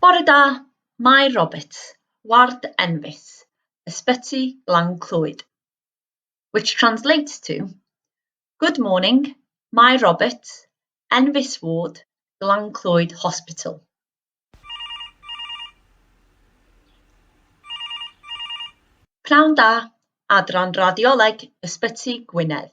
Bore da, Mair Roberts, ward Enfys, Ysbyty Glan Clwyd. Which translates to, Good morning, Mair Roberts, Enfys Ward, Glan Clwyd Hospital. Pnawn da, Adran Radioleg Ysbyty Gwynedd.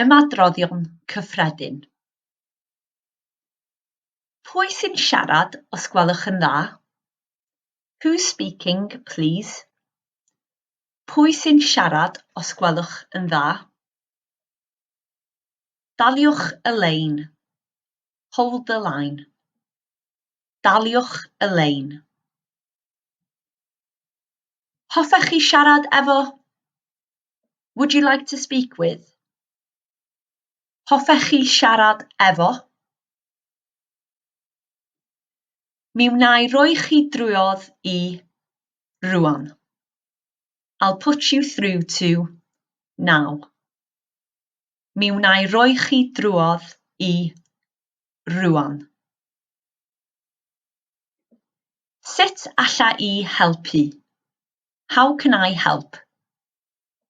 ymadroddion cyffredin. Pwy sy'n siarad os gwelwch yn dda? Who's speaking, please? Pwy sy'n siarad os gwelwch yn dda? Daliwch y lein. Hold the line. Daliwch y lein. Hoffech chi siarad efo? Would you like to speak with? Hoffech chi siarad efo? Mi wnai roi chi drwodd i rŵan. I'll put you through to now. Mi wnai roi chi drwodd i rŵan. Sut alla i helpu? How can I help?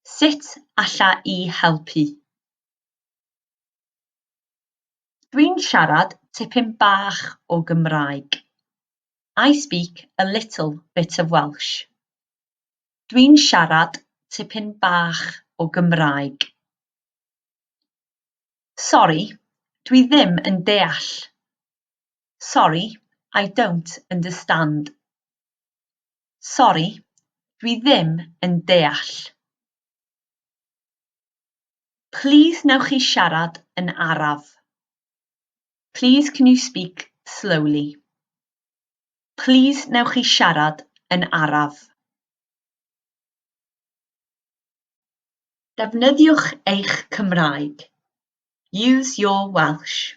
Sut alla i helpu? Dwi'n siarad tipyn bach o Gymraeg. I speak a little bit of Welsh. Dwi'n siarad tipyn bach o Gymraeg. Sori, dwi ddim yn deall. Sorry, I don't understand. Sori, dwi ddim yn deall. Plîs newch chi siarad yn araf. Plîs can you speak slowly. Plîs newch chi siarad yn araf. Defnyddiwch eich Cymraeg. Use your Welsh.